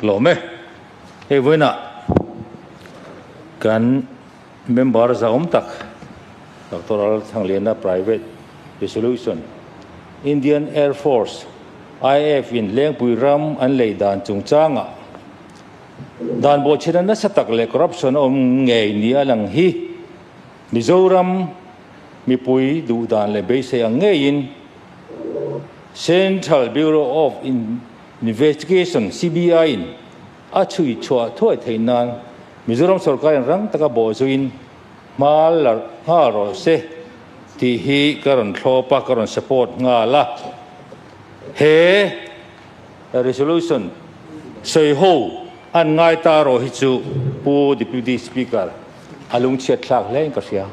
Hlawm e. Hei vawiinah kan member zahawm tak Doctor Aral Thangliana Private Resolution, Indian Air Force, IAF, in Lengpui ram an lei dan chungchangah dan buaithina nasa tak leh corruption a awm ngei nih a lang hi Mizoram mipui duhdan leh beisei ang ngeiin Central Bureau of Investigation, CBI, in a chhui chhuah thuai theih nan Mizoram sorkarin rang taka bawhzuin hmal larh nghal rawh se tih hi ka rawn thlawp a, ka rawn support nghal a. He resolution sawi ho an ngai ta rawh hi chu Pu Deputy Speaker a lungchhiat thlak hle in ka hria.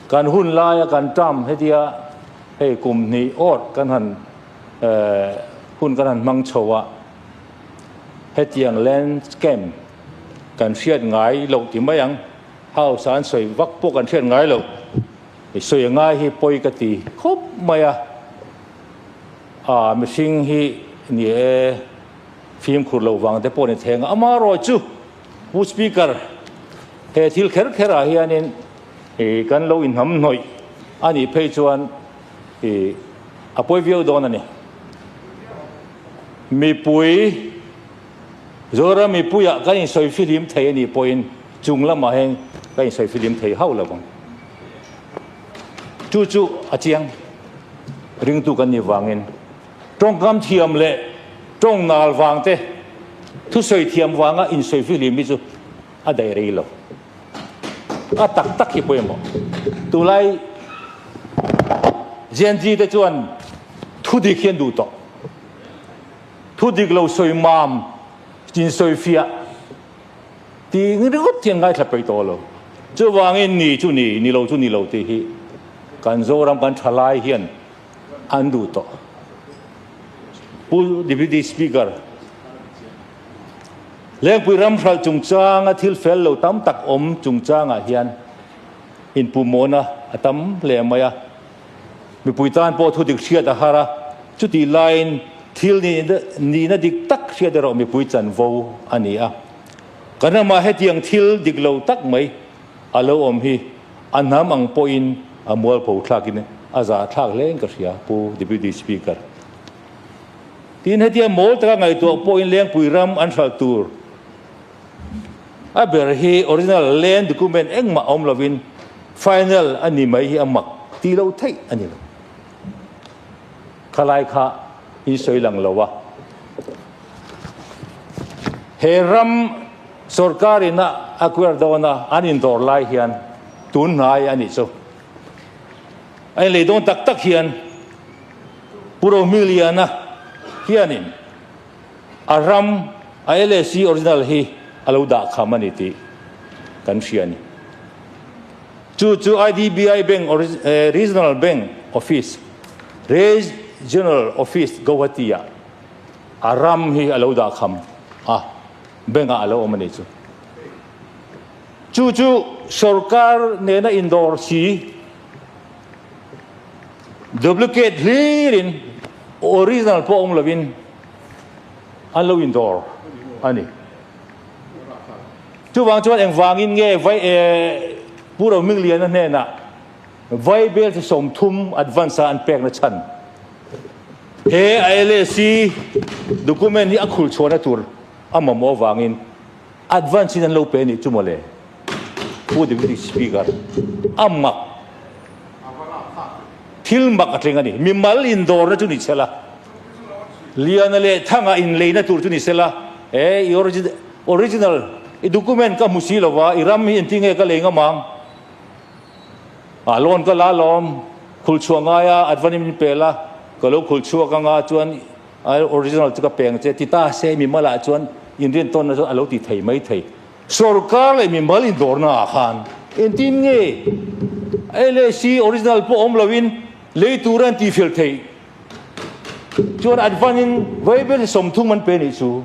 Kan hun laia kan term hetia hei kum hnih awrh kan han hun kan han hmang chho a, hetiang land scam kan hriat ngai lo ti mai ang, house a an sawi vak pawh kan hriat ngai lo, i sawi a ngai hi pawi ka ti khawp mai a, aa mihring hi ni e, fimkhur lo vang te pawh ni thei ang a, amarawh chu Pu Speaker he thil kher kher ah hian in kan lo inhnam hnawih a nih phei chuan I a pawi viau dawn a ni. Mipui, Zawra mipuiah kan insawi fihlim thei a nih pawhin chung lamah hian kan insawi fihlim thei hauh lo ang. Chu chu a chiang ringtu kan nih vangin tawngkam thiam leh tawngnal vangte thusawi thiam vanga insawi fihlim hi chu A daih rei lo a tak tak hi pawimawh tulai Gen Z te chuan thu dik hian duh tawh thu dik lo sawi mam chin sawi fiah ti ringawt hian ngaithla peih tawh lo chuvangin ni chu ni ni lo chu ni lo tih hi kan Zoram kan tha lai hian an duh tawh pu deputy speaker Lengpui ram hralh chungchanga thil fel lo tam tak awm chungchangah hian inpuhmawhna a tam hle mai a. Mipui tan pawh thudik hriat a har a, chutih laiin thil nihna dik tak hriat erawh mipui chanvo a ni a. Kan ramah hetiang thil dik lo tak mai a lo awm hi a hnam ang pawhin a mualpho thlakin a za thlak hle in ka hria, Pu Deputy Speaker. Tin, hetia mawl taka ngaihtuah pawhin Lengpui ram an hralh tur a ber hi original land document engmah awm lovin final a ni mai hi a mak ti lo theih a ni lo. Khalai kha in sawi lang lo a, he ram sawrkarin a acquire dawn a, an indawr lai hian tun hnai a nih chu. A inleidawn tak tak hian. Pu Rohmiliana hianin a ram a LAC original hi a lo dah kham a ni tih kan hria a ni. Chu chu IDBI Bank Regional Bank Office, Regional Office Guwahati-ah a ram hi a lo dah kham a, bank-ah a lo awm a ni chu. Chu chu sorkar nena indawr si Duplicate hlir in original pawh awm lovin an lo in dawr a ni. Chuvang chuan engvangin nge vai e Pu Roming Liana hnena Vaibel chi sawmthum advance a an pekna chhan. He a LAC document hi a khulchhuahna tur a mamawh avangin Advance in an lo pe anih chu mawle Pu Deputy Speaker a mak thil mak a tleng a ni. Mimal indawrna chu ni sela Liana leh Thanga inleina tur chu ni sela e i original i document ka hmu si lova i ram hi engti nge ka lei ngam ang a lawn ka la lawm khulchhuah ngaia advance in min pela ka lo khulchhuak anga chuan I original chu ka peng che ti ta se mimalah chuan inrin tawnna chu a lo ti thei mai thei. Sawrkar leh mimal indawrna ah khan engtin nge LAC original pawh awm loin lei tura an tihfel thei chuan an vanin vaibel hi sawmthung man pe nih chu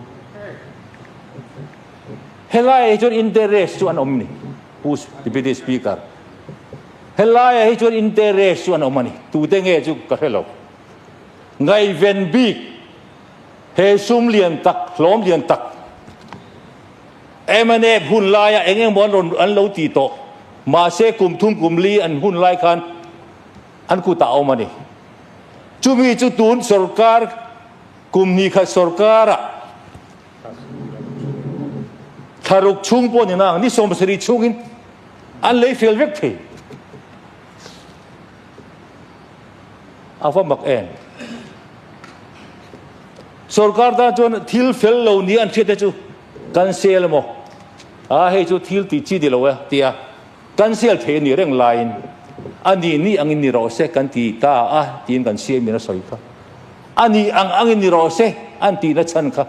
helai hi chuan interest chu an awm ni Pu Deputy Speaker helai hi chuan interest chu an awm a ni tute nge chu ka hre lo. Ngaiven bik he sum lian tak, hlawm lian tak em ane hun laia eng eng maw an lo ti tawh, mahse kum thum kum li an hun lai khan an kutah a awm ani. Chumi chu tun sorkar kum hnih khat sorkara tharuk chhung pawh ni na ang, ni sawmpasarih chhungin an lei fel vek thei. a va mak em? Sorkar tan chuan thil fel lo ni an hriat te chu kan sel emaw? A hei chu thil ti chi ti lo e tia kan sel thei ni reng lain ani ni angin ni rawh se kan ti ta a tiin kan siamin a sawi kha. Ani ang angin ni rawh se an tihna chhan kha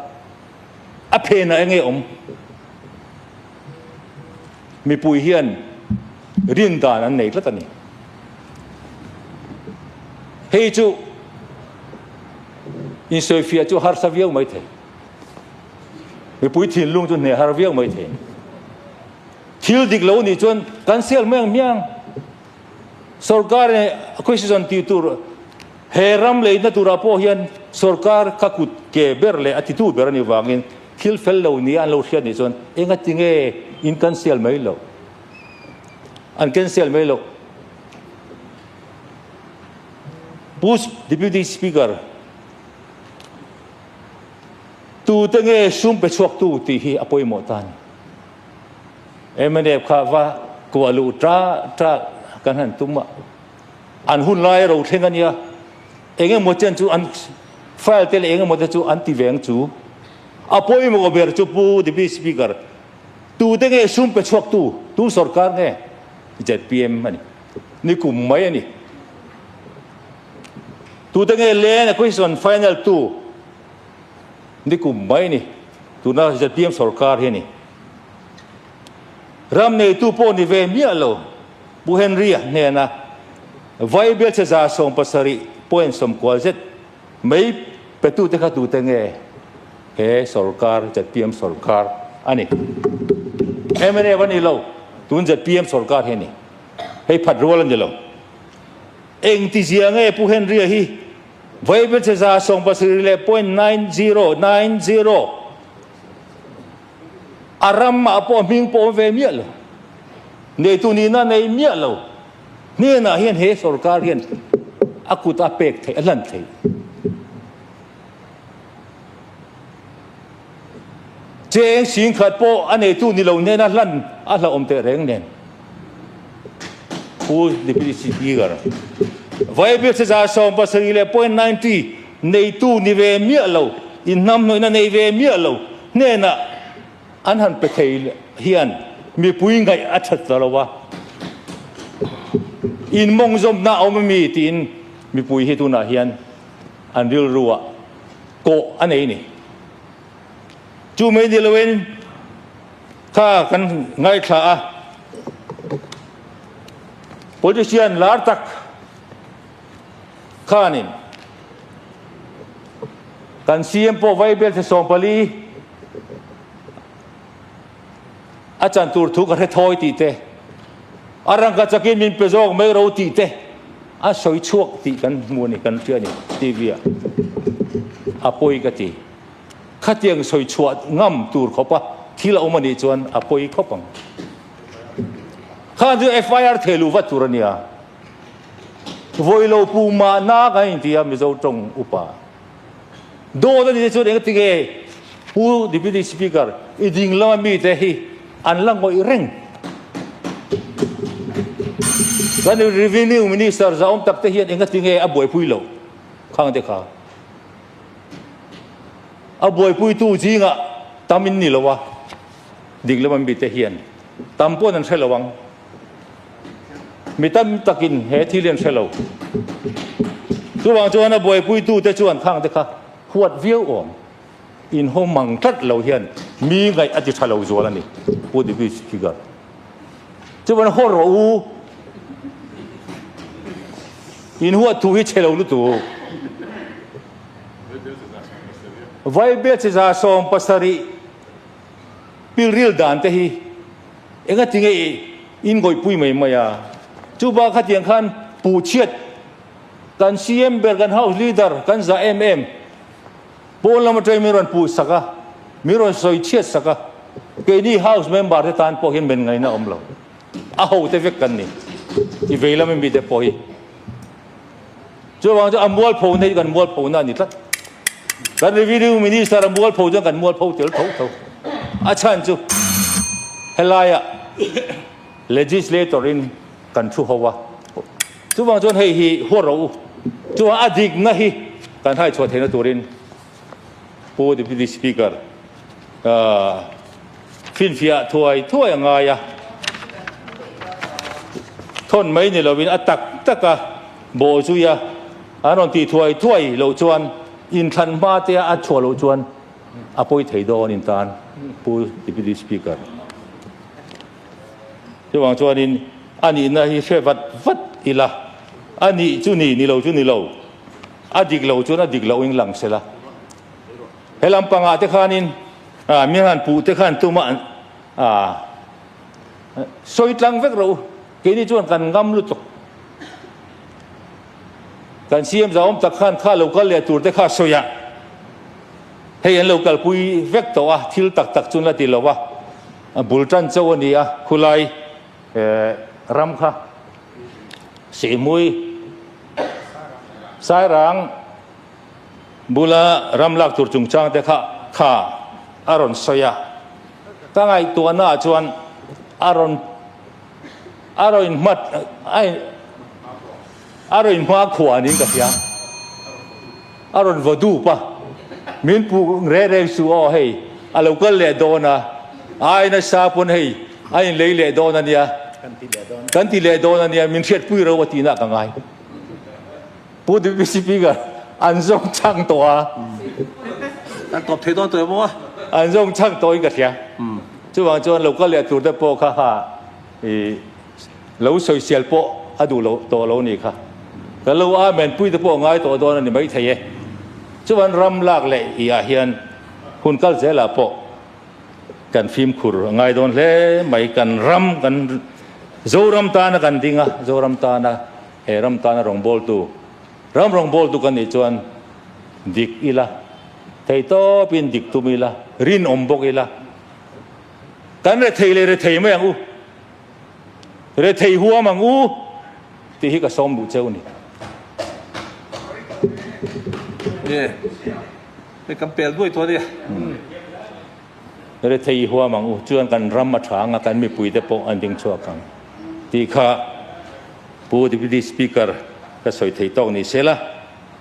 a phenah enge awm? mipui hian rin dan an nei tlat a ni. Hei chu insawi fiah chu harsa viau mai thei. Mipui thinlung chu hne har viau mai thei. Thil dik lo ni chuan kan sel miang miang. Sorkar e acquisition ti tur he ram leina tura pawh hian sorkar ka kut ke ber leh a titu ber a ni vangin Thil fel lo nia an lo hriat nih chuan enga tinge in cancel mai lo an cancel mai lo Pu Deputy Speaker tu te nge sum pe chhuak tu ti hi a pawimawh ta ni MNF kha va kuah lu tra tra kan han tum a an hun lai ro thleng ania Eng emaw chian chu an file te leh eng emaw te chu an ti ve ang chu. A pawimawh ber chu Pu Deputy Speaker, tute nge sum pe chhuak tu, tu sawrkar nge zpm a ni. Ni kum mai a ni. Tute nge land acquisition final tu, ni kum mai a ni. Tuna zpm sawrkar hi a ni. Ram neitu pawh ni ve miah lo. Pu Henry hnena Vai biacha za sawm pasarih point sawm kual zet mai petute kha tute nge he sorkar zpm sorkar a ni? Mnf a nilo tun zpm sorkar hi a ni. Hei phat rual a nilo. Engtizia nge Pu Henry hi Vai biacha za sawm pasarih leh point nine zero nine zero A ram ah pawh hming pawm ve miah lo. Neitu nih na nei miah lo. Hnenah hian he sorkar hian a kut a pek theih, a hlan theih. Cheng sing khat pawh a neitu ni lo hnena hlan a hlauhawm tehreng nen. Pu Deputy Speaker, Viable Sejah Sawm pasarih leh point ninety neitu ni ve miah lo, inhnamhnawihna nei ve miah lo hnenah an han pe thei hian mipui ngaih a that ta lo a, inmawngzawmhna a awm a mi tiin mipui hi tunah hian an rilruah kawh a nei a ni. Chu mai ni loin. kha kan ngaithla a, politician lar tak khanin kan CM pawh vai belthe sawm pali a chan tur thu ka hre thawi tih te, a rangka chakin min pe zawk mai ro tih te a sawi chhuak tih kan hmu a ni kan hria a ni TV-ah a pawi ka ti. Khatiang sawi chhuah ngam tur khawpa thil a awm a nih chuan a pawi khawp ang. Khan chu FIR theh luh vat tur a nia. Vawilo puma nak an inti a Mizo tawng upa. Dawt a nih te chuan engtin nge Pu Deputy Speaker i ding lama mite hi an la ngawih reng. Kan Revenue Minister zahawm takte hian engatinge a buaipui loh khang te kha. A buaipuitu zingah tam in ni loa dik lem an bi te hian tam pawn an hre lo ang. Mi tam takin he thil hi an hre lo. Chuvang chuan a buaipuitu te chuan thang te kha huat viau awm inhaw mang tlat lo hian mi ngaih a ti tha lo zual a ni, Pu David Spiegel. chuan haw rawh u in huat thu hi che lo lutu Vaibel che za sawm pasarih pilril dan te hi enga ti nge in goipui mai mai a chu ba kha tiang khan pu chiat kan CM ber kan house leader kan za em em Pawn lam atang min rawn puh sak a, min rawn sawi chhiat sak a, keini house member te tan pawh hian men ngaihna a awm lo. A ho te vek kan ni, i vei lama mi te pawh hi. Chuvang chu a mual pho na hi kan mual pho na a ni tlat. Kan revenue minister a mual pho chuan kan mual pho tel tho tho. A chhan chu helaiah legislator in kan thu ho a. Chuvang chuan hei hi huat ro u, chuan a dikna hi kan haichhuah theihna turin Pu Deputy Speaker Finfiah thuai thuai a ngai a, thawn mai ni loin a tak taka bawh zui a, an rawn tih thuai thuai loh chuan inthlan hma te a a chhuah loh chuan a pawi thei dawn in tan Pu Deputy Speaker. Chuvang chuanin, A nihna hi hre vat vat ila, a nih chu ni, ni lo chu ni lo, a dik lo chuan a dik loin lang se la. Helam panga te khanin, mi han puh te khan tuma an sawi tlang vek rawh u, keini chuan kan ngam lutuk. Kan siam zauawm tak khan kha lo kal leh tur te kha sawiah hei an lo kalpui vek tawh a, thil tak tak chun la ti lo va. A bul tan chauh a ni a, khulai ram kha Sihmui, Sairang bula ram lak tur chungchang te kha kha a rawn sawi a. Ka ngaihtuahna ah chuan a rawn a rawn inhmat a in. A rawn hma khua nin ka fiam. A rawn va dup a. Min puh reh reng chu aw hei a lo kal leh dawn a. Ai nasa pawn hei a in lei leh dawn a nia. Kan ti leh dawn a nia min hriat pui ro a tihna ka ngai. Pu Dipi Sipinga an zawng chang tawh a. Kan tawp thei dawn tawh e maw? An zawng chang tawhin ka hria. Chuvang chuan lo kal leh tur te pawh kha ha. I lo sawi sial pawh a duh lo tawh lo ni kha. Ka lo a men pui te pawh ngai tawh dawn a ni maithei e. Chuan ram lak leh i ah hian hun kal zel ah pawh kan fimkhur a ngai dawn hle mai. Kan ram kan Zoram tan a kan ding a, Zoram tan a he ram tan a rawngbawl tu ram rawngbawl tu kan nih chuan dik ila, thei tawp in dik tum ila, rinawm bawk ila. Kan rethei leh rethei mai ang u, rethei huam ang u tih hi ka sawm duh che u ni. Nge, hei kan pel duai tawh a nia. Rethei huam ang u, chuan kan ram a tha ang a, kan mipui te pawh an ding chhuak ang tih kha Pu Deputy Speaker ka sawi thei tawk ni sela,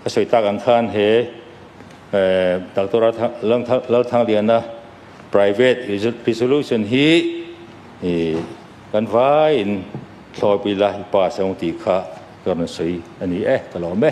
ka sawi tak ang khan he Doctor Lalthang Liana, Private resolution hi kan vaiin thlawpui la i pass ang tih kha ka rawn sawi a ni e, ka lawm e.